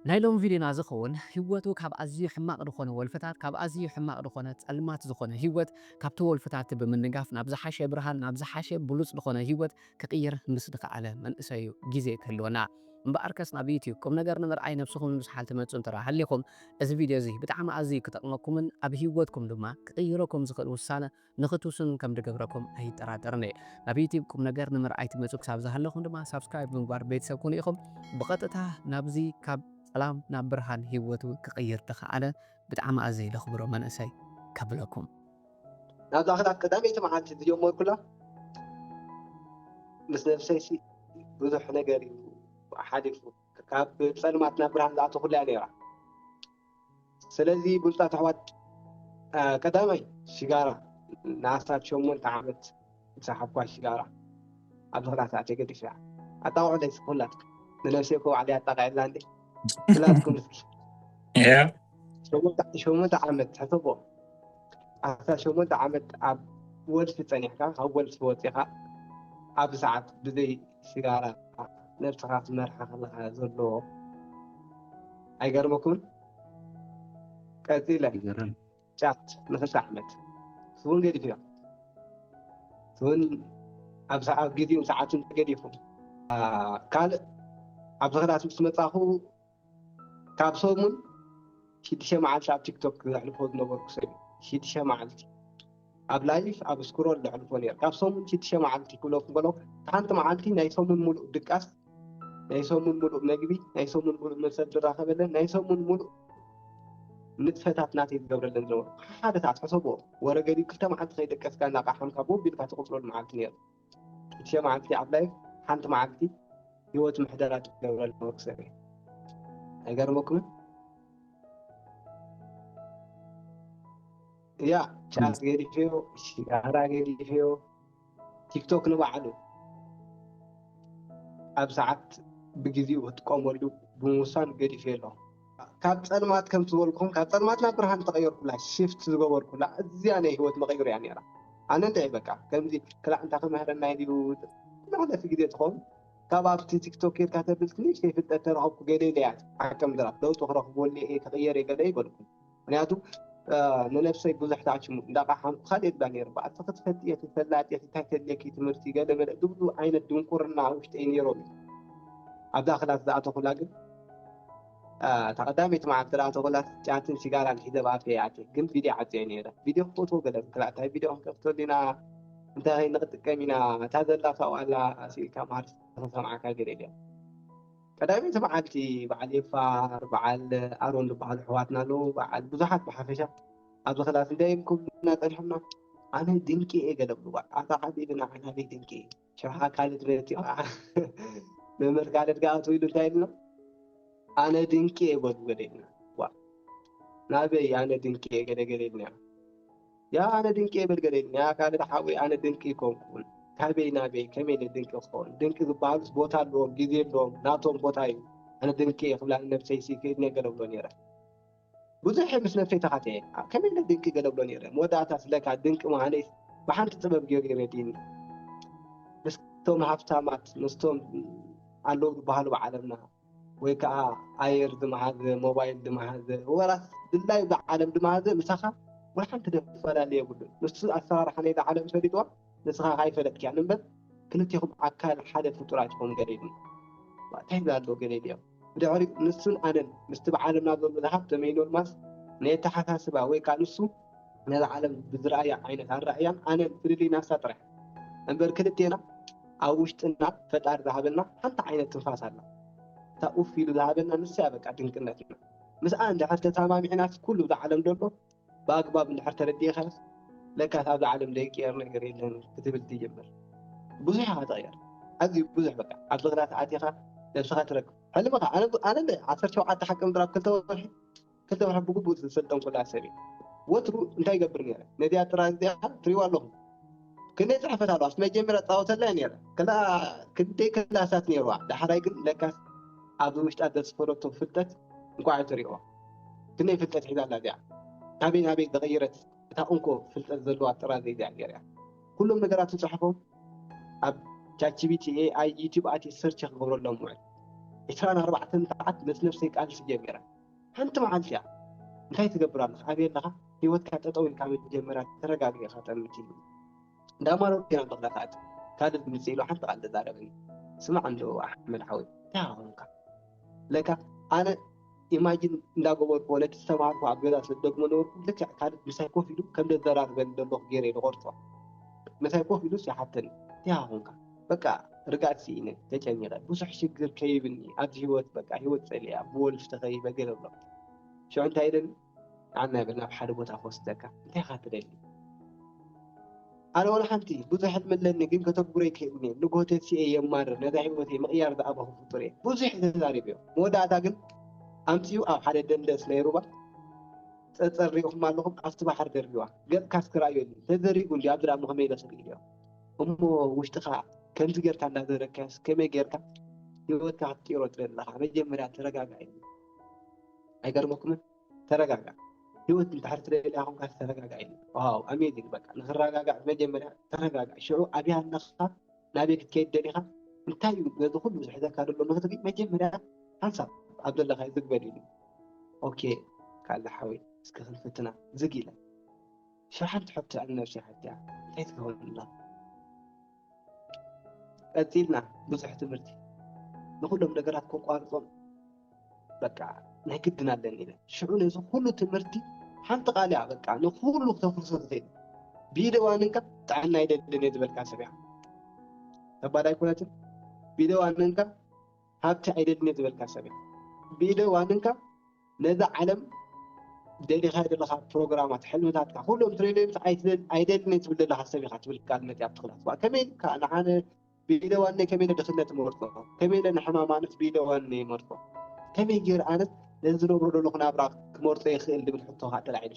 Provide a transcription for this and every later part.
ናይ ሎሚ ቪድዮና ዝኸውን ህይወቱ ካብ ኣዝዩ ሕማቕ ዝኾነ ወልፍታት ካብ ኣዝዩ ሕማቕ ዝኾነ ጸልማት ዝኾነ ህይወት ካብቲ ወልፍታቲ ብምንጋፍ ናብ ዝሓሸ ብርሃን ናብ ዝሓሸ ብሉጽ ዝኾነ ህይወት ክቕይር ምስ ድኸኣለ መንእሰዩ ግዜ ክህልወና እምበኣርከስ ናብ ዩቱብ ቁምነገር ንምርኣይ ነብስኹም ንምስሓል ትመጹ እንተ ሃሊኹም እዚ ቪድዮ እዚ ብጣዕሚ ኣዝዩ ክጠቕመኩምን ኣብ ህይወትኩም ድማ ክቕይረኩም ዝኽእል ውሳነ ንክትውስኑ ከም ድገብረኩም ኣይጠራጠርን እየ። ናብ ዩቲብ ቁምነገር ንምርኣይ ትመጹ ክሳብ ዝሃለኹም ድማ ሳብስክራይብ ብምግባር ቤተሰብ ኩኑ ኢኹም። ብቐጥታ ናብዚ ካብ ጸላም ናብ ብርሃን ሂወቱ ክቕይር ድኸኣለ ብጣዕሚ ኣዝየ ደኽብሮ መንእሰይ ከብለኩም። ናብዛ ክሳብ ቀዳመይቲ መዓልቲ ዝጀመርኩላ ምስ ነብሰይሲ ብዙሕ ነገር እዩ ሓሊፉ። ካብ ጸልማት ናብ ብርሃን ዝኣተኹላ እያ ነይራ። ስለዚ ብሉጻት ኣሕዋት ቀዳማይ ሽጋራ ንኣስታት ሸሞንተ ዓመት ዝሰሓብኳ ሽጋራ ኣብዚ ክላስ ኣትየ ገዲፈያ። ኣጣቕዑለይ እስኪ ኩላትኩም ንነብሰይ እኮ ባዕለይ ኣጣቒዐላ እንዴ ኩላትኩም እስኪ ሸሞንተ ዓመት ሕሰቦ ኣስታት ሸሞንተ ዓመት ኣብ ወልፊ ጸኒሕካ ካብ ወልፊ ወጺኻ ኣብዚ ሰዓት ብዘይ ሽጋራ ነብስኻ ትመርሓ ከለኻ ዘሎ ኣይገርመኩምን? ቀጺለ ይገርም ጫት ንኽልተ ዓመት ስውን ገዲፍና ስውን ኣብ ሰዓት ግዜኡን ሰዓቱን ተገዲፉ ካልእ ኣብ ዝኽዳት ምስ መጻኹ ካብ ሰሙን ሽዱሽተ መዓልቲ ኣብ ቲክቶክ ዘሕልፎ ዝነበርኩ ሰብ እዩ። ሽዱሽተ መዓልቲ ኣብ ላይፍ ኣብ ስክሮል ዘሕልፎ ነይረ ካብ ሰሙን ሽዱሽተ መዓልቲ ክብለኩም ከለኹ ሓንቲ መዓልቲ ናይ ሰሙን ሙሉእ ድቃስ ናይ ሰሙን ሙሉእ መግቢ ናይ ሰሙን ሙሉእ መሰብ ዝራኸበለን ናይ ሰሙን ሙሉእ ንጥፈታት ናተይ ዝገብረለን ዝነበርኩ ሓደ ሰዓት ሕሰብዎ ወረ ገዲብ ክልተ መዓልቲ ከይደቀስካ እናቃሓምካ ቦብ ኢልካ ትቕፅለሉ መዓልቲ ነይሩ ሽዱሽተ መዓልቲ ኣብ ላይፍ ሓንቲ መዓልቲ ሂወት ምሕደራ ትገብረሉ መክሰብ እዩ ኣይገርመኩምን ያ ጫት ገዲፍዮ ሽጋራ ገዲፍዮ ቲክቶክ ንባዕሉ ኣብ ሰዓት ብግዜኡ ክትጥቀመሉ ብምውሳን ገዲፍዮ ኣለኹ ካብ ጸልማት ከም ዝበልኩም ካብ ጸልማት ናብ ብርሃን ዝተቐየርኩላ ሽፍት ዝገበርኩላ እዚኣ ናይ ህይወት መቐይርያ ነይራ። ኣነ እንታይ በቃ ከምዚ ክላእ እንታይ ክምህረና ኢዩ መሕለፊ ግዜ ትኸውን ካብ ኣብቲ ቲክቶክ ጌርካ ተብል ትንእሽተይ ፍልጠት ተረኸብኩ ገለ ኢለ እያ ዓቀም ድራፍ ለውጢ ክረኽበሉ እየ ክቕየር እየ ገለ ይበልኩ ምክንያቱ ንነብሰይ ብዙሕ ታችሙ እንዳቃሓምኩ ካልእ ይብላ ነይሩ በኣልቲ ክትፈትየ ክትፈላጥ እቲ እንታይ ተድልየኪ ትምህርቲ ገለ መለ ዝብሉ ዓይነት ድንቁርና ውሽጠይ ነይሮም ኣብዛ ክላስ ዝኣተኹላ ግን እታ ቀዳመይቲ መዓልቲ ደኣ ተበላስ ጫትን ሽጋራን ሒዘ ኣብ ኣፈይ ኣትየ ግን ቪድዮ ዓጽየ ነይረ ቪድዮ ክፈትዎ ገለ ክላ እንታይ ቪድዮ ክንከፍተሉ ኢና እንታይ ከይኒ ክጥቀም ኢና እታ ዘላ ካብኡ ኣላ ስኢልካ መሃር ስለዝሰምዓካ ገለ ኢለ ቀዳመይቲ መዓልቲ በዓል ኤፋር በዓል ኣሮን ዝበሃሉ ኣሕዋትና ኣለዉ በዓል ብዙሓት ብሓፈሻ ኣብዚ ክላስ እንታይ እዮም ክብሉና ጸኒሖምና ኣነ ድንቂ እየ ገለ ብሉዋ ኣታ ዓቢ ኢልና ዓናበይ ድንቂ እየ ሽብሓ ካልድ ቤት እዩ ከዓ መምህር ካልድ ከዓ ትብሉ እንታይ ኢልና ኣነ ድንቂ እየ በሉ ገለ ኢልና ዋ ናበይ ኣነ ድንቂ እየ ገለ ገለ ኢልና ያ ኣነ ድንቂ እየ በል ገለ ኢልና ያ ካልድ ሓወይ ኣነ ድንቂ ይኮንኩን ካበይ ናበይ ከመይ ኢለ ድንቂ ክኸውን ድንቂ ዝበሃሉስ ቦታ ኣለዎም ግዜ ኣለዎም ናቶም ቦታ እዩ ኣነ ድንቂ እየ ክብላ ነብሰይ ሲ ክእድነ ገለ ብሎ ነይረ ብዙሕ ምስ ነብሰይ ተኻቲዔ ኣብ ከመይ ኢለ ድንቂ ገለብሎ ነይረ መወዳእታስ ለካ ድንቂ ምኃነይስ ብሓንቲ ጥበብ ገይሩ እዩ ረዲእኒ ምስቶም ሃፍታማት ምስቶም ኣለዉ ዝበሃሉ ብዓለምና ወይ ከዓ ኣየር ዝመሃዘ ሞባይል ዝመሃዘ ወራስ ድላይ ብዓለም ዝመሃዘ ምሳኻ ወሓንቲ ደፈላለ የብሉን ንሱ ኣሰራርሓ ናይዛ ዓለም ፈሊጥዋ ንስኻ ኣይፈለጥክያን እምበር ክልቴኹም ኣካል ሓደ ፍጡራት ኢኹም ገለ ኢሉ እንታይ ኣሎ ገለ ኢሉ እዮም ብድሕሪኡ ንሱን ኣነን ምስቲ ብዓለምና ዘሎ ዝሃብተ መይኖር ማስ ነየተሓሳስባ ወይ ከኣ ንሱ ነዛ ዓለም ብዝረኣያ ዓይነት ኣረኣእያን ኣነን ፍልልይ ናሳ ጥራሕ እምበር ክልቴና ኣብ ውሽጥና ፈጣሪ ዝሃበና ሓንቲ ዓይነት ትንፋስ ኣላ እታ ኡፍ ኢሉ ዝሃበና ንሳያ በቃ ድንቅነትና ምስኣ እንድሕር ተሳማሚዕናስ ኩሉ እዛ ዓለም ዘሎ ብኣግባብ እንድሕር ተረዲእኻዮስ ለካስ ኣብዛ ዓለም ዘይቅየር ነገር የለን ክትብል ትጅምር። ብዙሕ ኢኻ ትቕየር፣ ኣዝዩ ብዙሕ በቃ። ኣብ ዝኽርያት ኣቲኻ ነብስኻ ትረክብ። ሕልምኻ ኣነ ኣነ እንደ ዓሰርተ ሸውዓተ ሓቂ ምድሪ ኣብ ክልተ ወርሒ ክልተ ወርሒ ብግቡእ ዝሰልጠንኩላ ሰብ እየ። ወትሩ እንታይ ይገብር ነይረ? ነዚኣ ጥራዝ እዚኣ ትርእይዋ ኣለኹም። ክንደይ ጽሕፈት ኣለዋ፣ ኣብቲ መጀመርያ እጻወተላ እየ ነይረ። ከላ ክንደይ ክላሳት ነይርዋ፣ ዳሕራይ ግን ለካስ ኣብዚ ውሽጣ ዘስፈረቶ ፍልጠት እንቋዕ ኣይተርእይዋ። ክንደይ ፍልጠት ሒዛ ኣላ እዚኣ ካበይ ናበይ ዝቐየረት እታ እንኮ ፍልጠት ዘለዋ ጥራዝ እግዚኣብሄር እያ። ኩሎም ነገራት ትጽሕፎም ኣብ ቻትጂቢቲ፣ ኤኣይ፣ ዩቱብ ኣትየ ሰርች ክገብረሎም እውዕል። ዕስራን ኣርባዕተን ሰዓት ምስ ነብሰይ ቃልሲ ጀሚረ። ሓንቲ መዓልቲ እያ እንታይ ትገብር ኣለኻ ኣበይ ኣለኻ ሂወትካ ጠጠው ኢልካ መጀመርያ ተረጋግእ ኢኻ ጠምት ኢሉ እንዳ ማረርኩ ኢና በቕላ ክኣቲ ካልድ ምጽእ ኢሉ ሓንቲ ቃል ተዛረበኒ ስማዕ እንዶ ኣሕመድ ሓወይ እንታይ ኾንካ ለካ ኣነ ኢማጂን እንዳገበርኩ ወለዲ ዝተማሃርኩ ኣብ ገዛ ስለ ዝደግሞ ዝነበርኩ ልክዕ ካልድ ምሳይ ኮፍ ኢሉ ከም ዘዘራርበኒ ደለኹ ጌረ እየ ዝቐርጾ። ምሳይ ኮፍ ኢሉስ ይሓተኒ እንቲኻ ኮንካ በቃ ርግኣት ሲኢነ ተጨኒቐ ብዙሕ ሽግር ከይብኒ ኣብዚ ሂወት በቃ ሂወት ጸሊኣ ብወልፊ ተኸቢበ ገለ እብሎ ሽዑ እንታይ ኢለኒ ኣነ ግን ናብ ሓደ ቦታ ክወስደካ እንታይ ኢኻ ትደሊ? ኣነ ወላ ሓንቲ ብዙሕ ሕልሚ ኣለኒ ግን ከተግብሮ ኣይክእልን'የ ንግሆ ተሲኤ የማርር ነዛ ሂወተይ ምቕያር ዝኣበኹ ፍጡር'የ ብዙሕ ተዛሪበዮ መወዳእታ ግን ኣምጺኡ ኣብ ሓደ ደንደስ ናይ ሩባ ጸጸር ሪኢኹም ኣለኹም ኣብቲ ባሕሪ ደርቢዋ ገጽካ እስኪ ርኣዮኒ ተዘሪጉ እንድዩ ኣብዚ ድኣሞ ከመይ ኢለ ክርእዮ እሞ ውሽጥኻ ከምዚ ጌርካ እንዳዘረግካዮስ ከመይ ጌርካ ሂወትካ ክትቅይሮ ትደሊ ኣለኻ መጀመርያ ተረጋጋእ ኢሉ ኣይገርመኩምን ተረጋጋእ ሂወት ድሕሪ ትደልያ ኮንካ ተረጋጋእ ኢሉ ዋው ኣሜዚንግ በቃ ንክረጋጋእ መጀመርያ ተረጋጋእ ሽዑ ኣብያ ኣለካ ናበይ ክትከይድ ደሊካ እንታይ እዩ ነዚ ኩሉ ዝሕዘካ ዘሎ ንክትርኢ መጀመርያ ሓንሳብ ኣብ ዘለካዮ ዝግ በል ኢሉ ኦኬ ካለ ሓወይ እስከ ክንፍትና ዝግ ኢለ ሽዑ ሓንቲ ሕቶ ኣብ ነብሰይ ሓቲያ እንታይ ትገብር ኣላ ቀጺልና ብዙሕ ትምህርቲ ንኹሎም ነገራት ከቋርጾም በቃ ናይ ግድን ኣለኒ ኢለ ሽዑ ነዚ ኩሉ ትምህርቲ ሓንቲ ቃል እያ በቃ ንኩሉ ክተፍርሶ ዝኽእል ብኢደ ዋንንካ ጥዕና ይደልን እየ ዝበልካ ሰብ እያ ተባል ኣይኮነትን ብኢደ ዋንንካ ሃብቲ ኣይደልን እየ ዝበልካ ሰብ እያ ብኢደ ዋንንካ ነዛ ዓለም ደሊኻያ ዘለኻ ፕሮግራማት፣ ሕልምታትካ ኩሎም ትሬልዮምስ ኣይትደል ኣይደልን እየ ትብል ዘለኻ ሰብ ኢኻ ትብል ቃልነት እያ ኣብቲ ክላስ። ዋእ ከመይ ኢልካ ንዓነ ብኢደ ዋነይ ከመይ ኢለ ድኽነት እመርጾ፣ ከመይ ኢለ ንሕማም ኣነስ ብኢደ ዋነይ እመርጾ፣ ከመይ ገይረ ኣነስ ነዚ ዝነብሮ ዘለኹ ናብራ ክመርጾ ይኽእል ዝብል ሕቶ ከኣ ተላዒሉ።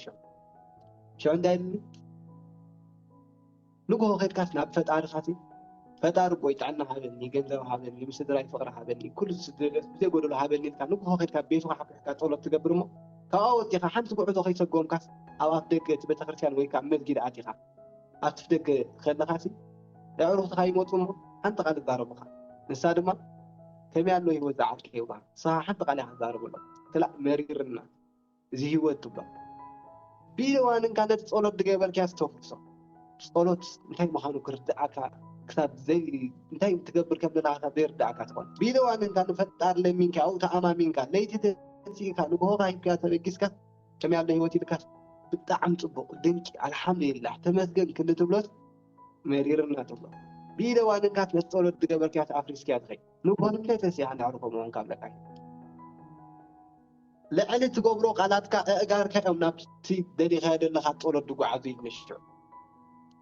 ሽዑ እንታይ ኢሉኒ? ንግሆ ከድካስ ናብ ፈጣርካ ሲ ፈጣሪ ኣቦይ ጥዕና ሃበኒ ገንዘብ ሃበኒ ምስ ስድራይ ፍቅሪ ሃበኒ ኩሉ ዝደልዮ ብዘይ ጎደሎ ሃበኒ ኢልካ ንግሆ ከድካ ቤትካ ሓቍፍካ ጸሎት ትገብር እሞ ካብኣ ወጺኻ ሓንቲ ጉዕዞ ከይሰጎምካስ ኣብ ኣፍ ደገ እቲ ቤተክርስትያን ወይ ከኣ መስጊድ ኣቲኻ ኣብቲ ደገ ከለኻ ሲ ኣዕሩኽትኻ ይመጹ እሞ ሓንቲ ቃል ይዛረቡኻ ንሳ ድማ ከመይ ኣሎ ህይወት ዝዓርከ ይብሉኻ ንስኻ ሓንቲ ቃል ኢኻ ትዛረበሎም ክላእ መሪርና እዚ ህይወት ትብሎ ቢለ ዋንንካ ነቲ ጸሎት ድገበርካያስ ተፍርሶ ጸሎት እንታይ ምዃኑ ክርድኣካ ክሳብ ዘይ እንታይ ትገብር ከም ዘለና ክሳብ ዘይርድኣካ ትኾን ቢለ ዋንንካ ንፈጣር ለሚንካ ኣብኡ ተኣማሚንካ ለይቲ ተንሲእካ ንግሆኻ ሂብካ ተበጊስካ ከመይ ኣሎ ህይወት ኢልካ ብጣዕሚ ጽቡቕ ድንቂ ኣልሓምዱሊላህ ተመስገን ክንዲ ትብሎስ መሪርና ትብሎ ቢለ ዋንንካ ነቲ ጸሎት ድገበርካያስ ኣፍሪስካያ ትኸይ ንግሆ ንምንታይ ተንሲእካ እንዳዕረፎ ምዃንካ ኣለካ ልዕሊ ትገብሮ ቃላትካ እእጋርካ እዮም ናብቲ ደሊኻዮ ደለኻ ጸሎት ድጉዓዙ ኢል ንሽዑ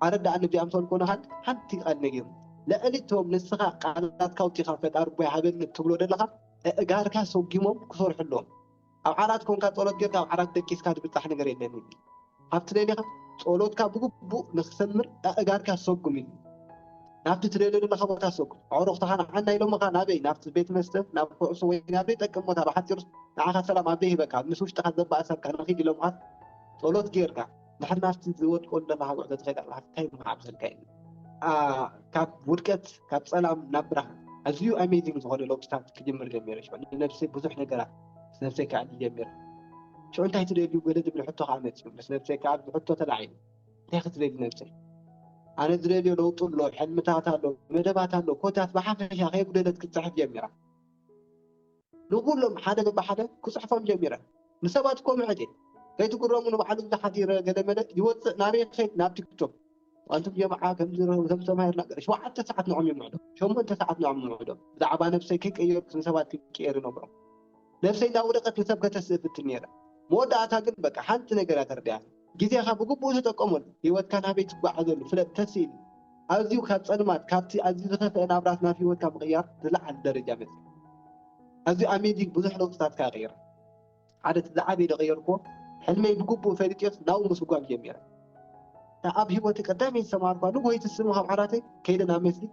ኣረዳኣኒ እዚኣም ሰልኮነኻን ሓንቲ ቃል ነጊሩ ልዕሊ እቶም ንስኻ ቃላትካ ኣውጺኻ ፈጣሪ እቦይ ሃበኒ እትብሎ ደለኻ እእጋርካ ሰጉሞም ክሰርሑ ኣለዎም ኣብ ዓራት ኮንካ ጸሎት ጌርካ ኣብ ዓራት ደቂስካ ድብጻሕ ነገር የለን ኢል ኣብ ትደልኻ ጸሎትካ ብግቡእ ንኽሰምር ኣእጋርካ ሰጉም ኢሉ ናብቲ ትደልዮ ዘለኻ ቦታ ሰጉም። ኣዕሩኽትኻ ንዓና ኢሎምኻ ናበይ ናብቲ ቤት መስተ ናብ ኩዕሶ ወይ ናብ ዘይጠቅም ቦታ ብሓጺሩስ ንዓኻ ሰላም ኣበይ ይህበካ ኣብ ምስ ውሽጥኻ ዘባእሰካ ንኺድ ኢሎምኻስ ጸሎት ጌርካ ድሕሪ ናብቲ ዝወድቆ ዘለኻ ጉዕዞ ትኸይድ ኣለኻ ታይ ምዓብሰልካ ኢሉ ካብ ውድቀት ካብ ጸላም ናብ ብርሃን ኣዝዩ ኣሜዚንግ ዝኾነ ለውጥታት ክጅምር ጀሚሩ ንነብሰይ ብዙሕ ነገራት ምስ ነብሰይ ከኣ ኢደይ ገርህኩ። ሽዑ እንታይ ትደልዩ ገለ ዝብል ሕቶ ከኣ መጺኡ። ምስ ነብሰይ ከኣ ብሕቶ ተላዒሉ። እንታይ ክትደሊ ነብሰይ? ኣነ ዝደልዮ ለውጢ ኣሎ፣ ሕልምታት ኣሎ፣ መደባት ኣሎ፣ ኮታስ ብሓፈሻ ከየጉደለት ክትጽሕፍ ጀሚራ። ንኹሎም ሓደ በብሓደ ክጽሕፎም ጀሚረ። ንሰባት እኮ ምሕት እየ። ከይትግረሙ ንባዕሉ እዚ ሓዲረ ገለመለ ይወጽእ ናበይ ክኸይድ ናብ ቲክቶክ። ኣንቱም ጀምዓ ከምዚ ከምዝተማሂርና ገለ ሸውዓተ ሰዓት ንዖም ይምዕዶ ሸሞንተ ሰዓት ንዖም ይምዕዶ ብዛዕባ ነብሰይ ከይቀየርኩ ንሰባት ክቅየር ይነግሮም ነብሰይ እናወደቀት ንሰብ ከተስእ እፍትን ነይረ መወዳእታ ግን በቃ ሓንቲ ነገር እያ ተርዲኣኒ ግዜኻ ብግቡእ ተጠቀመሉ ሂወትካ ናበይ ትጓዓዘሉ ፍለጥ ተስእኒ ኣዝዩ ካብ ጸልማት ካብቲ ኣዝዩ ዝኸፍአ ናብራት ናብ ሂወትካ ምቕያር ዝለዓለ ደረጃ በጺሕካ ኣዝዩ ኣሜዚንግ ብዙሕ ለውጥታት ከኣ ቀይራ። ሓደ እቲ ዝዓበየ ዝቐየርኩዎ ሕልመይ ብግቡእ ፈሊጤዮስ ናብኡ ምስጓም ጀሚረ። እታ ኣብ ህይወተይ ቀዳመይቲ ዝተማሃርኩዋ ንጉሆይቲ ስሙ ካብ ዓራተይ ከይደ ናብ መስጊድ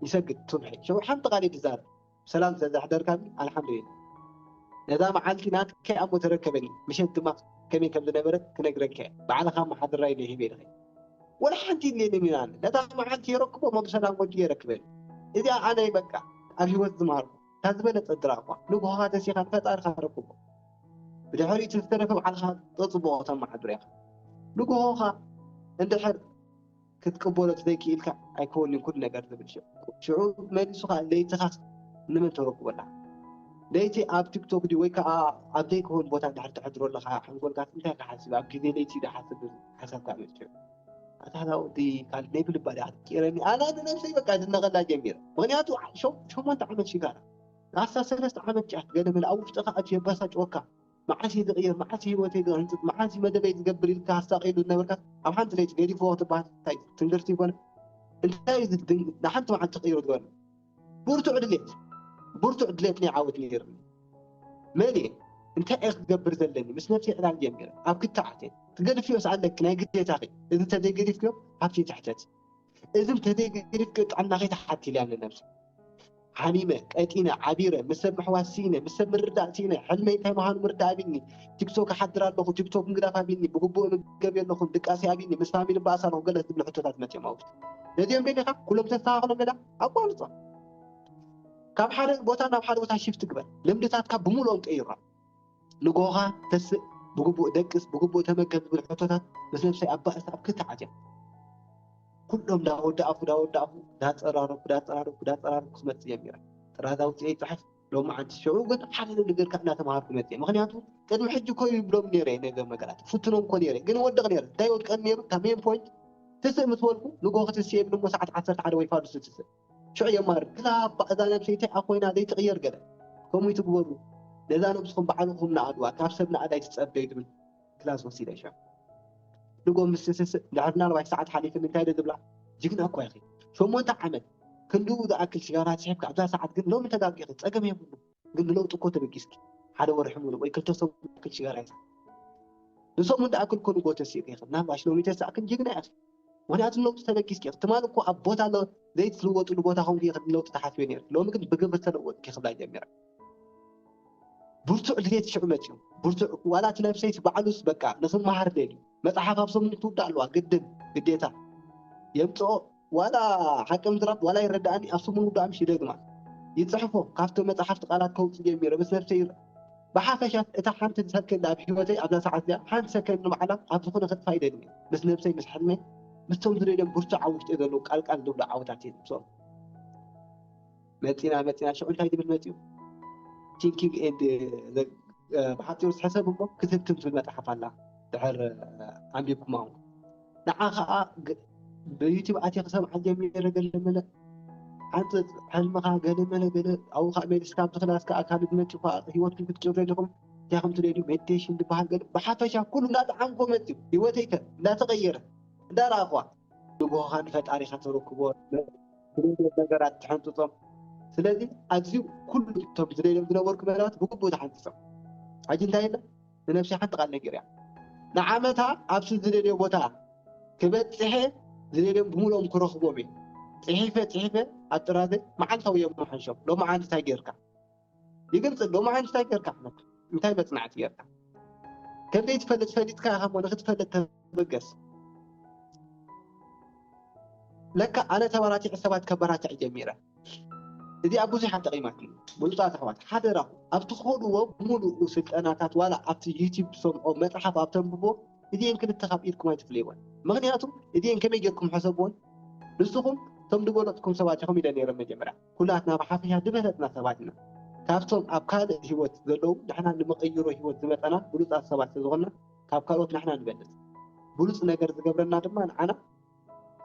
ይሰግድ ሱብሒ ሽዑ ሓንቲ ቃል እየ ዝዛረብ ብሰላም ስለዘሕደርካኒ ኣልሓምዱሊላህ ነዛ መዓልቲ ናትካ'ያ እሞ ተረከበኒ ምሸት ድማ ከመይ ከም ዝነበረት ክነግረካ'የ ባዕልኻ ኣመሓድራይ ነይ ሂበይ ድኸ ወላ ሓንቲ የድልየንን ኢዩ ኣነ ነታ መዓልቲ የረክቦ እሞ ብሰላም ወዲኡ የረክበኒ እዚኣ ኣነ በቃ ኣብ ህይወት ዝማሃርኩዋ እታ ዝበለጸት ጥራ'ኳ ንግሆኻ ተሲኻ ንፈጣሪኻ ኣረክቦ። ብድሕሪኡ እቲ ዝተረፈ ባዕልኻ ብጽቡቕ ከተመሓድሮ ኢኻ። ንግሆኻ እንድሕር ክትቅበሎ ተዘይክኢልካ ኣይከውንን'ዩ ኩሉ ነገር ዝብል ሽዑ። ሽዑ መሊሱ ከኣ ለይትኻስ ንመን ተረክቦ ኣለኻ? ለይቲ ኣብ ቲክቶክ ድዩ ወይ ከኣ ኣብ ዘይክውን ቦታ እንድሕር ተሕድሮ ኣለኻ ሓንጎልካስ እንታይ ክሓስብ'ዩ ኣብ ግዜ ለይቲ'ዩ ዝሓስብ ዝብል ሓሳብካ ኣምጽኡ። ኣታ እዛ ወዲ ካልእ ናይ ብልባ ድያ ክትቅይረኒ ኣነ ንነብሰይ በቃ ዝነቐላ ጀሚረ ምክንያቱ ዓ- ሸው- ሸሞንተ ዓመት ሽጋራ ንኣስታት ሰለስተ ዓመት ጫት ገለ መለ ኣብ ውሽጥኻ ኣትዩ የባሳጭወካ መዓስ እየ ዝቕየር መዓስ እዩ ህይወተይ ዝህንፅፅ መዓስ እዩ መደበይ ዝገብር ኢልካ ኣሳቂሉ ዝነበርካ ኣብ ሓንቲ ለይቲ ገዲፍዎ ክትበሃል እንታይ ትንግርቲ ይኮነ እንታይ እዩ ዝድን ንሓንቲ መዓልቲ ትቕይሮ ዝበለ ብርቱዕ ድሌት ብርቱዕ ድሌት ናይ ዓወት ነይሩኒ። መን እየ? እንታይ እየ ክገብር ዘለኒ? ምስ ነብሰይ ዕላል ጀሚረ። ኣብ ክትዓት እየ። ትገድፍዮስ ኣለኪ ናይ ግዴታኺ፣ እዚ እንተዘይገዲፍክዮ ሃብቲ ትሕተቲ፣ እዚ እንተዘይገዲፍክዮ ጥዕናኺ ትሓቲ ኢለያ ንነብሰይ። ሓሚመ፣ ቀጢነ፣ ዓቢረ፣ ምስ ሰብ ምሕዋስ ስኢነ፣ ምስ ሰብ ምርዳእ ስኢነ፣ ሕልመይ እንታይ ምዃኑ ምርዳእ ኣቢኒ፣ ቲክቶክ እሓድር ኣለኹ፣ ቲክቶክ ምግዳፍ ኣቢኒ፣ ብግቡእ እምገብ የለኹን፣ ድቃሰይ ኣቢኒ፣ ምስ ፋሚሊ እባኣስ ኣለኹ ገለ ዝብሉ ሕቶታት መጺኦም ኣብ ውሽጠይ። ነዚኦም ደሊኻ ኩሎም ተስተኻኽሎም ደላ? ኣቋርፆ ካብ ሓደ ቦታ ናብ ሓደ ቦታ ሽፍት ግበር ልምድታትካ ብምልኦም ቀይራ ንጎኻ ተስእ ብግቡእ ደቅስ ብግቡእ ተመገብ ዝብል ሕቶታት ምስ ነብሰይ ኣብ ባእሲ ኣብ ክልተ ዓትያ ኩሎም ዳወዳኣፉ ዳወዳኣፉ ዳፀራረኩ ዳፀራረኩ ዳፀራረኩ ክመፅእ ጀሚረ ጥራዛ ውፅኤ ይፅሕፍ ሎማዓንቲ ሽዑ ግን ሓደ ነገር ካብ እናተምሃርኩ መጺኤ ምኽንያቱ ቅድሚ ሕጂ እኮ ይብሎም ነይረ ነገር ነገራት ፍትኖም እኮ ነይረ ግን ወድቕ ነይረ እንታይ ወድቀን ነይሩ እታ ሜን ፖይንት ትስእ ምስ በልኩ ንግሆ ክትስኤ ብድሞ ሰዓት ዓሰርተ ሓደ ወይ ፋዱስ ትስእ ሽዑ የማርር ክላ እባ እዛ ነብሰይ እንታይ ኣኮይና ዘይትቕየር ገለ ከምኡ ይትግበሩ ነዛ ነብስኹም ባዕልኹም ንኣድዋ ካብ ሰብ ንኣድ ኣይትጸበዩ ትብል ክላስ ወሲደ ሸም ንጎም ምስ ትስስእ ድሕሪ ናልባይ ሰዓት ሓሊፍኒ እንታይ ዶ ትብላ ጅግና እኳ ኢኺ ሸሞንተ ዓመት ክንድኡ ዝኣክል ሽጋራ ስሒብኪ ኣብዛ ሰዓት ግን ሎሚ ተጋጊኺ ጸገም የብሉ ግን ንለውጢ እኮ ተበጊስኪ ሓደ ወርሒ ሙሉእ ወይ ክልተ ሰሙን ዝኣክል ሽጋራ ይስሓብ ንሰሙን ድኣክል እኮ ንጎ ተሲእኺ ኢኺ ናባሽ ሎሚ ተሳእክን ጅግና ኢኺ ምክንያቱ ንለውጢ ተበጊስኪ ኢኺ ትማሊ እኮ ኣብ ቦታ ዘይትልወጥሉ ቦታ ኮንኪ ኢኺ ንለውጢ ተሓስቢ ነይርኪ ሎሚ ግን ብግብሪ ተለወጥኪ ክብላ ጀሚራ ብርቱዕ ድሌት ሽዑ መጺኡ። ብርቱዕ ዋላ እቲ ነብሰይስ ባዕሉስ በቃ ንኽመሃር ደልዩ። መጽሓፍ ኣብ ሰሙን ክትውዳእ ኣለዋ ግድን፣ ግዴታ፣ የምጽኦ ዋላ ሓቂ ምዝራብ ዋላ ይረደኣኒ ኣብ ሰሙን ውዳኣ ምሽ ይደግማ ይጽሕፎ ካብቲ መጽሓፍቲ ቃላት ከውጽእ ጀሚረ ምስ ነብሰይ ይር ብሓፈሻስ እታ ሓንቲ ሰከንድ ኣብ ህይወተይ ኣብዛ ሰዓት እዚኣ ሓንቲ ሰከንድ ንባዕላ ኣብ ዝኾነ ከጥፋ ይደግም ምስ ነብሰይ ምስ ሕልመይ ምስቶም ዝደልዮም ብርቱዕ ኣብ ውሽጢ ዘለዉ ቃልቃል ዝብሉ ዓወታት እየ ዝምስኦም መፂና መፂና ሽዑ እንታይ ዝብል መፂኡ ቲንኪንግ ኤንድ ብሓፂሩ ዝሕሰብ እሞ ክትህብትም ትብል መፅሓፍ ኣላ ድሕር ኣንቢብኩማ እውን ንዓ ከዓ ብዩቲብ ኣትየ ክሰምዓ ጀሚረ ገለ መለ ሓንፅፅ ሕልምኻ ገለ መለ ገለ ኣብኡ ከዓ ሜዲስካ ኣብዚ ክላስ ከዓ ካልእ ዝመፅኡ ከዓ ሂወትኩም ክትጭሩ ኣለኹም እንታይ ከም ትደልዩ ሜዲቴሽን ዝበሃል ገለ ብሓፈሻ ኩሉ እንዳጠዓምኮ መፅኡ ሂወተይከ እንዳተቐየረ እንዳረኣኹዋ ንግሆኻ ንፈጣሪኻ ተረክቦ ብደልዮም ነገራት ትሕንጽጾም። ስለዚ ኣብዚ ኩሉ እቶም ዝደልዮም ዝነበርኩ መደባት ብግቡእ ተሓንጺጾም። ሕጂ እንታይ ኢለ ንነብሰይ ሓንቲ ቃል ነጊረያ። ንዓመታ ኣብቲ ዝደልዮ ቦታ ክበጽሔ ዝደልዮም ብምሉኦም ክረኽቦም እየ። ጽሒፈ ጽሒፈ ኣብ ጥራዘይ መዓልታዊ እየ መሓይሾም። ሎምዓንቲ እንታይ ጌርካ? ይግልፅ ኣሎ እሞ ሓንቲ እንታይ ጌርካ ሕመት እንታይ መፅናዕቲ ጌርካ ከምዘይትፈልጥ ፈሊጥካ ኢኻ እሞ ንክትፈልጥ ተበገስ ለካ ኣነ ተበራቲዐ ሰባት ከበራትዕ ጀሚረ እዚኣ ብዙሓት ጠቒማትኒ ብሉፃት ኣሕዋት ሓደራኹም ኣብ ትኸድዎ ብምሉኡ ስልጠናታት ዋላ ኣብቲ ዩቲብ ትሰምዖ መፅሓፍ ኣብ ተንብቦ እዚአን ክልተ ካብ ኢድኩም ኣይትፍለይወን ምክንያቱ እዚአን ከመይ ጌርኩም ሕሰብዎን ንስኹም እቶም ዝበለፅኩም ሰባት ኢኹም ኢለ ነይረ መጀመርያ ኩላትና ብሓፈሻ ድበለጽና ሰባት ኢና። ካብቶም ኣብ ካልእ ህይወት ዘለዉ ንሕና ንመቐይሮ ህይወት ዝመጸና ብሉጻት ሰባት ስለዝኾንና ካብ ካልኦት ንሕና ንበልጽ። ብሉጽ ነገር ዝገብረና ድማ ንዓና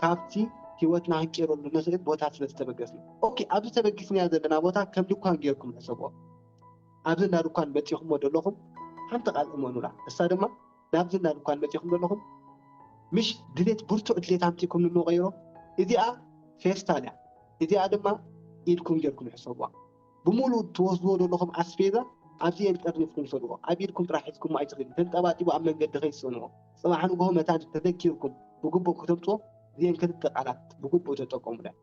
ካብቲ ህይወትና ክንቄረሉ ንኽእል ቦታ ስለዝተበገስና። ኦኬ ኣብዚ ተበጊስናዮ ዘለና ቦታ ከም ድኳን ጌርኩም ሕሰብዎ። ኣብዚ እንዳ ድኳን መጺኹሞ ደለኹም ሓንቲ ቃል እመኑላ እሳ ድማ ናብዚ እና ድኳን መጺኹም ዘለኹም ምሽ ድሌት ብርቱዕ ድሌት ኣምጺኩም እሞ ቀይሮ እዚኣ ፌስታል እያ እዚኣ ድማ ኢድኩም ጌርኩም ሕሰብዋ ብሙሉ ትወስድዎ ዘለኹም ኣስፌዛ ኣብዚ የን ጠርኒፍኩም ሰድዎ ኣብ ኢድኩም ጥራሕ ሒዝኩሞ ኣይትኽዱ ተንጠባጢቡ ኣብ መንገዲ ከይትሰንዎ ጽባሕ ንግሆ መታን ተዘኪርኩም ብግቡእ ከተምጽዎ እዚኤን ክልተ ቃላት ብግቡእ ተጠቀሙለን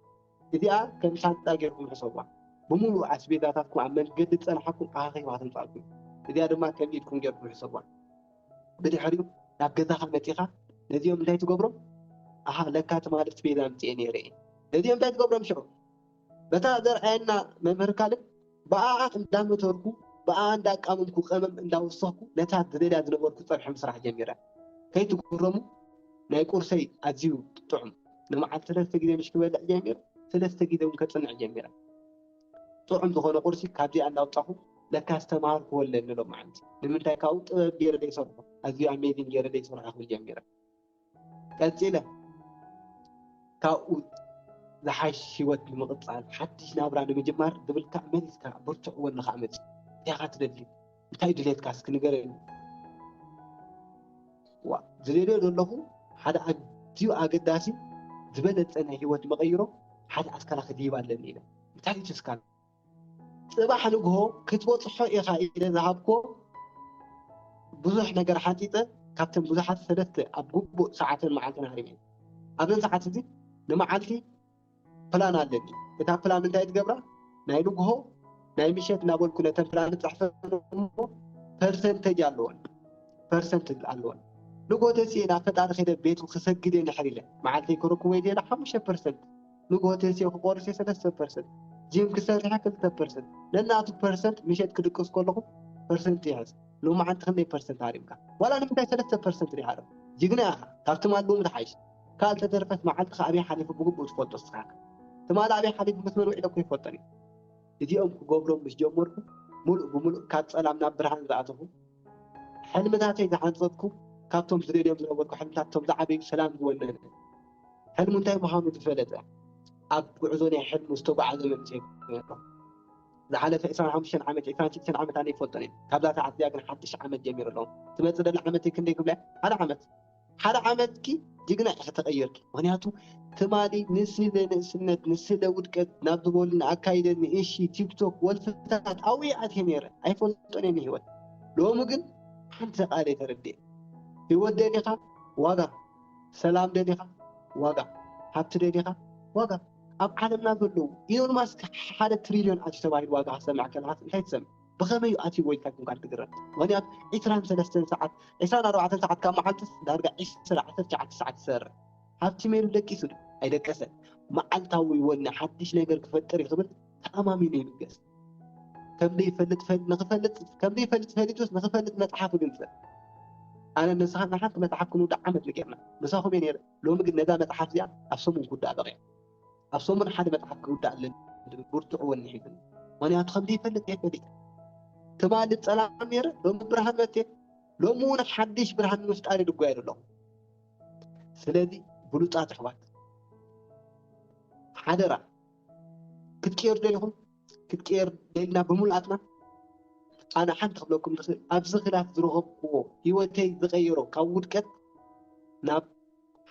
እዚኣ ከም ሻንጣ ጌርኩም ሕሰቡዋ። ብምሉኡ ኣስቤዛታትኩም ኣብ መንገዲ ዝጸንሓኩም ኣኻኺባ ተምጽኣልኩም እያ። እዚኣ ድማ ከም ኢድኩም ጌርኩም ሕሰቡዋ። ብድሕሪኡ ናብ ገዛኻ መጺኻ ነዚኦም እንታይ ትገብሮም? ኣሃ ለካ ትማሊ ኣስቤዛ ኣምጺኤ ነይረ እየ። ነዚኦም እንታይ ትገብሮም ሽዑ? በታ ዘርኣየና መምህር ካልድ፣ ብኣኣ እንዳመተርኩ ብኣኣ እንዳቃመምኩ ቀመም እንዳወሰኽኩ ነታ ዝደልያ ዝነበርኩ ጸብሒ ምስራሕ ጀሚረ። ከይትግረሙ ናይ ቁርሰይ ኣዝዩ ጥዑም ንመዓልቲ ሰለስተ ግዜ ምሽ ክበልዕ ጀሚረ ሰለስተ ግዜ ውን ከጽንዕ ጀሚረ። ጥዑም ዝኾነ ቁርሲ ካብዚኣ እንዳውጻኹ ለካስ ተማሃርኩ ወለ ንሎማዓንቲ ንምንታይ ካብኡ ጥበብ ጌረ ዘይሰርሖ ኣዝዩ ኣሜዚንግ ጌረ ዘይሰርሖ ክብል ጀሚረ። ቀጺለ ካብኡ ዝሓሽ ሂወት ንምቕጻል ሓድሽ ናብራ ንምጅማር ዝብል ክሳዕ መሊስካ ብርቱዕ ወኒ ከዓ መጺኡ እንታይ ኢኻ ትደሊ እንታይ እዩ ድሌትካ እስኪ ንገረኒ ዋ ዝደልዮ ዘለኹ ሓደ ኣዝዩ ኣገዳሲ ዝበለጸ ናይ ሂወት መቐይሮ ሓደ ኣስካላ ክድይብ ኣለኒ ኢለ እንታይ እዩ ተስካላ ጽባሕ ንግሆ ክትበጽሖ ኢኻ ኢለ ዝሃብኩዎ ብዙሕ ነገር ሓንጺጸ ካብተን ብዙሓት ሰለስተ ኣብ ግቡእ ሰዓትን መዓልትን ሃሪመ እየ። ኣብዚ ሰዓት እዚ ንመዓልቲ ፕላን ኣለኒ። እታ ፕላን እንታይ ትገብራ? ናይ ንግሆ ናይ ምሸት እናበልኩ ነተን ፕላን እጽሕፈን እሞ ፐርሰንተጅ ኣለወን ፐርሰንት ኣለወን ንግሆ ተሲኤ ናብ ፈጣሪ ከይደ ቤቱ ክሰግድ እየ ንሕር ኢለ መዓልተይ ከረክቦ እየ ዝደለ ሓሙሽተ ፐርሰንት ንግሆ ተሲኦ ክቆርስ እየ ሰለስተ ፐርሰንት ጂም ክሰርሕ ክልተ ፐርሰንት ነናቱ ፐርሰንት ምሸት ክድቅስ ከለኹ ፐርሰንት ይሕዝ ሎማዓንቲ ክንደይ ፐርሰንት ሃሪምካ ዋላ ንምንታይ ሰለስተ ፐርሰንት ዲኻ ዶ ጅግና ኢኻ ካብ ትማል ሎሚ ትሓይሽ ካል ተተረፈስ መዓልትኻ ኣበይ ሓሊፉ ብግቡእ ትፈልጦ እስኻ ኢኻ ትማል ኣበይ ሓሊፉ ምስ መን ውዒለ እኮ ይፈልጦን እየ እዚኦም ክገብሮም ምስ ጀመርኩ ሙሉእ ብሙሉእ ካብ ፀላም ናብ ብርሃን ዝኣተኹ ሕልምታተይ ዝሓንጸጽኩ ካብቶም ዝደልዮም ዝነበርኩ ሕልምታት እቶም ዝዓበዩ ሰላም ዝወነነ ሕልሙ እንታይ ምዃኑ ዝፈለጠ ኣብ ጉዕዞ ናይ ሕልሙ ዝተጓዓዘ መንእሰይ ነይሩ። ዝሓለፈ ዕስራን ሓሙሽተን ዓመት ዕስራን ሽዱሽተን ዓመት ኣነ ይፈልጦን እየ ካብዛ ሰዓት እዚኣ ግን ሓድሽ ዓመት ጀሚሩ ኣለኹ ትመጽእ ዘላ ዓመተይ ክንደይ ክብላ እየ ሓደ ዓመት ሓደ ዓመትኪ ጅግና ኢኺ ተቐይርኪ ምኽንያቱ ትማሊ ንስለ ንእስነት ንስለ ውድቀት ናብ ዝበሉ ንኣካይደ ንእሺ ቲክቶክ ወልፍታት ኣውየ ኣትየ ነይረ ኣይፈልጦን እየ ንህይወት ሎሚ ግን ሓንቲ ቃለይ ተረዲኤ ህይወት ደሊኻ ዋጋ ሰላም ደሊኻ ዋጋ ሃብቲ ደሊኻ ዋጋ ኣብ ዓለምና ዘለዉ ኢሎን ማስክ ሓደ ትሪልዮን ኣትዩ ተባሂሉ ዋጋ ክሰምዕ ከለኻስ እንታይ ትሰምዕ ብኸመይ እዩ ኣትይዎ ኢልካ ኰንካ እትግረም? ምኽንያቱ ዕስራን ሰለስተን ሰዓት፣ ዕስራን ኣርባዕተን ሰዓት ካብ መዓልትስ ዳርጋ ዕስራ፣ ዓሰርተ ትሽዓተ ሰዓት ይሰርሕ። ሃብቲ ሜሉ ደቂሱ ድዩ? ኣይደቀሰን። መዓልታዊ ወኒ ሓድሽ ነገር ክፈጥር እዩ ክብል ተኣማሚኑ ይብገስ። ከም ዘይፈልጥ ንኽፈልጥ ከም ዘይፈልጥ ፈሊጡስ ንኽፈልጥ መጽሓፍ ይግንጽል። ኣነን ንስኻን ንሓንቲ መጽሓፍ ክንውዳእ ዓመት እዩ ጌርና። ምሳኹም እየ ነይረ፣ ሎሚ ግን ነዛ መጽሓፍ እዚኣ ኣብ ሰሙን ክውዳእ በቒዓ። ኣብ ሰሙን ሓደ መጽሓፍ ክውዳእ ኣለኒ ዝብል ብርቱዕ ወኒ ሒዙኒ ምክንያቱ ከም ዘይፈልጥ እየ ፈሊጠ ትማሊ ጸላም ነይረ ሎሚ ብርሃን መቴ ሎሚ እውን ሓድሽ ብርሃን ንምፍጣር ይድጓየሉ ኣለኹ ስለዚ ብሉጻት ኣሕዋት ሓደራ ክትቀየሩ ደሊኹም ክትቀየር ደልና ብምሉኣትና ኣነ ሓንቲ ክብለኩም ዝኽእል ኣብዚ ክላት ዝረኸብኩዎ ሂወተይ ዝቐየሮ ካብ ውድቀት ናብ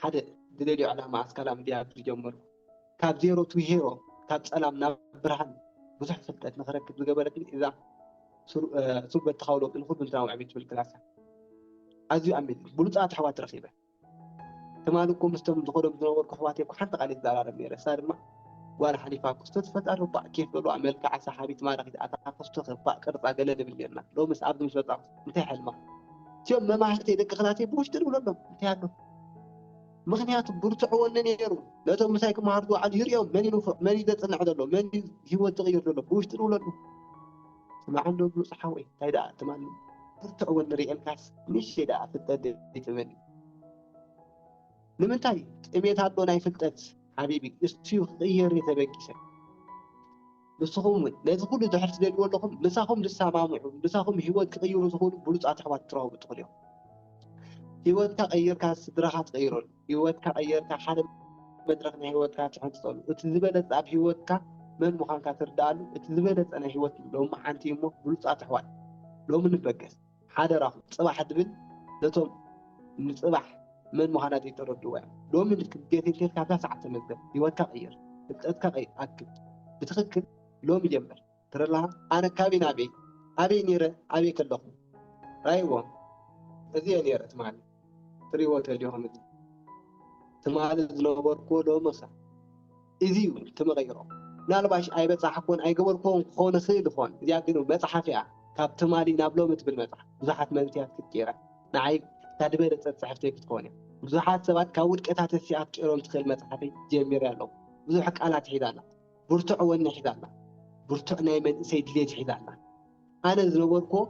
ሓደ ዝደልዮ ዕላማ ኣስካላ ምድያብ ዝጀመሩ ካብ ዜሮ ቱ ሄሮ ካብ ጸላም ናብ ብርሃን ብዙሕ ፍልጠት ንክረክብ ዝገበረትኒ እዛ ሱር በተኻዊ ለውጢ ንኹሉ እንትናዊ ዕብየት ትብል ክላስ እያ ኣዝዩ ኣሚን ብሉፃት ኣሕዋት ረኺበ ትማሊ እኮ ምስቶም ዝኸዶም ዝነበርኩ ኣሕዋት እኮ ሓንቲ ቃል ይዘራረብ ነይረ እሳ ድማ ጓል ሓሊፋ ክስቶ ትፈጣሪ ባእ ኬፍ በልዋ መልክዓ ሰሓቢት ማራኺት ኣታ ክስቶ ክባእ ቅርፃ ገለ ንብል ነርና ሎምስ ኣብዚ ምስ በፃኹ እንታይ ሓልማ እቲኦም መማህርተይ ደቂ ክላተይ ብውሽጢ ንብለሎም እንታይ ኣሎ ምክንያቱ ብርቱዕ ወኒ ነይሩ ነቶም ምሳይ ክመሃሩ ዝውዓሉ ይርኦም መን እዩ ንፉዕ መን እዩ ዘፅንዕ ዘሎ መን እዩ ሂወት ዝቕይር ዘሎ ብውሽጢ ንብለሉ ስማዕን ዶ ብሉፅ ሓወይ እንታይ ደኣ ትማል ብርቱዕ ወኒ ርኤልካስ ንእሽተይ ደኣ ፍልጠት ዘይትብል ንምንታይ ጥሜት ኣሎ ናይ ፍልጠት ሓቢቢ እስዩ ክቕየር እየ ተበጊሰ ንስኹም እውን ነዚ ኩሉ ድሕሪ ትደልይዎ ኣለኹም፣ ምሳኹም ዝሰማምዑ፣ ምሳኹም ህይወት ክቕይሩ ዝኽእሉ ብሉጻት ኣሕዋት ክትረኽቡ ትኽእሉ ኢኹም። ህይወትካ ቀይርካ ስድራኻ ትቕይረሉ፣ ህይወትካ ቀይርካ ሓደ መድረኽ ናይ ህይወትካ ትሕንጽጸሉ፣ እቲ ዝበለጸ ኣብ ህይወትካ መን ምዃንካ ትርድኣሉ እቲ ዝበለጸ ናይ ህይወት ሎምዓንቲ እዩ እሞ ብሉጻት ኣሕዋት ሎሚ ንበገስ። ሓደራኹም ጽባሕ ድብል ነቶም ንጽባሕ መን ምዃና ዘይተረድእዋ እያ። ሎሚ ንክብደት እንተ ኢልካ ሳዓት ተመዝገብ፣ ህይወትካ ቀይር፣ ፍልጠትካ ቀይር፣ ኣክብ ብትኽክል ሎሚ ጀምር። ትርላሃ ኣነ ካበይ ናበይ ኣበይ ኔረ ኣበይ ከለኹ ራይዎ እዚ እየ ኔረ ትማሊ። ክትሪእዎ ተሊኹም እዚ ትማሊ ዝነበርኩዎ ሎሚ ከ እዚ እዩ እቲ መቐይሮ ምናልባሽ ኣይበፃሕኩዎን ኣይገበርኩዎን ክኸውን ይኽእል ይኾን እዚኣ ግን መፅሓፍ እያ ካብ ትማሊ ናብ ሎሚ ትብል መፅሓፍ ብዙሓት መንእሰያት ክትቅይራ ንዓይ ካብ ዝበለፀት ፅሕፍተይ ክትከውን እያ ብዙሓት ሰባት ካብ ውድቀታት እሲ ኣትቂሮም ትኽእል መፅሓፈይ ጀሚረ ኣለዉ ብዙሕ ቃላት ሒዛ ኣላ ብርቱዕ ወኒ ሒዛ ኣላ ብርቱዕ ናይ መንእሰይ ድሌት ሒዛ ኣላ ኣነ ዝነበርኩዎ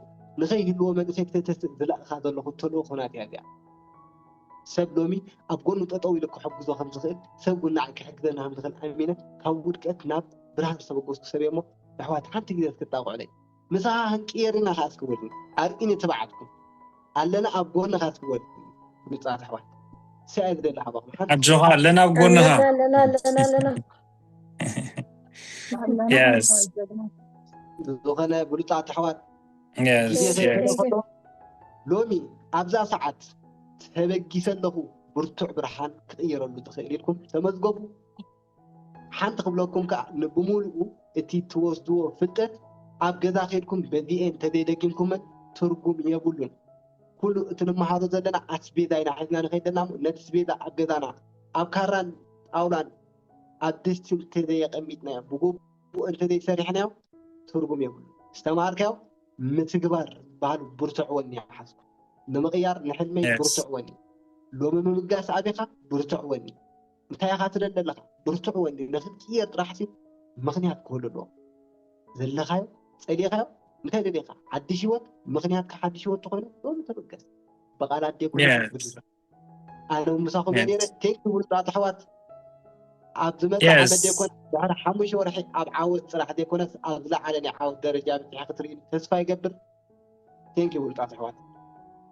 ንኸይህልዎ መንእሰይ ክተተስእ ዝለኣኻ ዘለኹ ተልእኾ ናተይ ኣዚኣ። ሰብ ሎሚ ኣብ ጎኑ ጠጠው ኢሉ ክሕግዞ ከም ዝኽእል ሰብ እውን ንዓይ ክሕግዘኒ ከም ዝኽእል ኣሚነ ካብ ውድቀት ናብ ብርሃን ዝተበገስኩ ሰብ እየ እሞ ኣሕዋት ሓንቲ ግዜ እስኪ ጣቕዑለይ። ምሳኻ ክንቅየር ኢና ከኣ እስኪ በሉኒ። ኣርእዩኒ ትብዓትኩም። ኣለና ኣብ ጎንኻ እስኪ በሉኒ ብሉጻት ኣሕዋት። እሰይ ኣየ ዝደሊ ካባኹም ሓንቲ ኣጆኻ ኣለና ኣብ ጎንኻ። ኣለና ኣለና ኣለና ኣለና ዝኾነ ብሉፃት ኣሕዋት ሎሚ ኣብዛ ሰዓት ተበጊሰ ኣለኹ ብርቱዕ ብርሃን ክቕየረሉ ትኽእል ኢልኩም ተመዝገቡ ሓንቲ ክብለኩም ከዓ ንብምሉኡ እቲ ትወስድዎ ፍልጠት ኣብ ገዛ ከድኩም በዚኤን ተዘይደጊምኩመን ትርጉም የብሉን ኩሉ እቲ ንመሃሮ ዘለና ኣስቤዛ ኢና ሒዝና ንኸይድ ዘለና ነቲ ስቤዛ ኣብ ገዛና ኣብ ካራን ጣውላን ኣዲስ ትምህርቲ ተዘየቐሚጥናዮም ብግቡእ እንተዘይሰሪሕናዮ ትርጉም የብሉን። ዝተምሃርካዮ ምትግባር ዝበሃል ብርቱዕ ወኒ ሓዝኩ። ንምቕያር ንሕልመይ Yes. ብርቱዕ ወኒ፣ ሎሚ ምብጋስ ኣቢኻ ብርቱዕ ወኒ፣ እንታይ ኢኻ ትደሊ ኣለኻ ብርቱዕ ወኒ፣ ንኽትቅየር ጥራሕሲ ምኽንያት ክህሉ ኣለዎ። ዘለኻዮ ጸሊእኻዮ እንታይ ደሊኻ ሓድሽ ህይወት፣ ምኽንያትካ ሓድሽ ህይወት ተኾይኑ ሎሚ ተበገስ። ብቓላት ዴጉላ Yes. ብድረ ኣለዉ ምሳኹም እየ ነይረ ቴክ ብሉፃት ኣሕዋት ኣብ ዝመፅእ ዓመት ዘይኮነስ ድሕሪ ሓሙሽተ ወርሒ ኣብ ዓወት ፅራሕ ዘይኮነስ ኣብ ዝለዓለ ናይ ዓወት ደረጃ ብፅሐ ክትርኢ ተስፋ ይገብር ቴንኪ ብሉፃት ኣሕዋት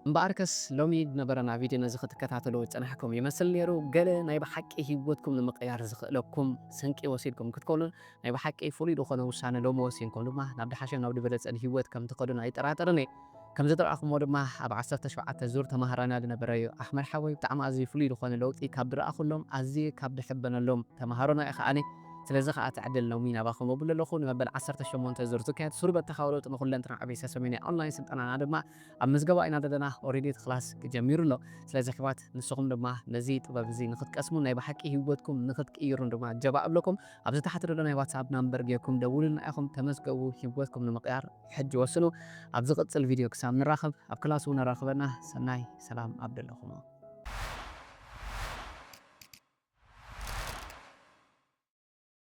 እምበኣርከስ ሎሚ ዝነበረና ቪድዮ ነዚ ክትከታተሉ ዝፀናሕኩም ይመስል ነይሩ። ገለ ናይ ብሓቂ ህይወትኩም ንምቕያር ዝኽእለኩም ስንቂ ወሲድኩም ክትኮኑን ናይ ብሓቂ ፍሉይ ዝኾነ ውሳነ ሎሚ ወሲንኩም ድማ ናብ ድሓሸን ናብ ድበለፀን ህይወት ከምትኸዱን ኣይጠራጠርን እየ። ከም ዝጠራእኩሞ ድማ ኣብ ዓሰርተ ሸውዓተ ዙር ተማሃራና ዝነበረ ዩ። ኣሕመድ ሓወይ ብጣዕሚ ኣዝዩ ፍሉይ ዝኾነ ለውጢ ካብ ዝረኣኹሎም ኣዝየ ካብ ዝሕበነሎም ተማሃሮና ኢኻ ኣነ ስለዚ ኸኣ ትዕድል ሎሚ ናባኹም እብል ኣለኹ። ንመበል ዓሰርተ ሸሞንተ ዙር ዝካየድ ሱር በተኻዊ ለውጢ ንኹለንትና ዕቤሰ ሰሜናይ ኦንላይን ስልጠናና ድማ ኣብ ምዝገባ ኢና ዘለና ኦሬዲ እቲ ክላስ ጀሚሩ ኣሎ። ስለዚ ኣሕዋት ንስኹም ድማ ነዚ ጥበብ እዚ ንኽትቀስሙን ናይ ብሓቂ ሂወትኩም ንኽትቅይሩን ድማ ጀባ እብለኩም። ኣብዚ ታሕቲ ዘሎ ናይ ዋትስኣፕ ናምበር ጌርኩም ደውሉልና ኢኹም ተመዝገቡ ሂወትኩም ንምቕያር። ሕጂ ወስኑ ኣብ ዝቅጽል ቪድዮ ክሳብ ንራኸብ ኣብ ክላስ ውን ኣራኽበና ሰናይ ሰላም ኣብ ደለኹሞ።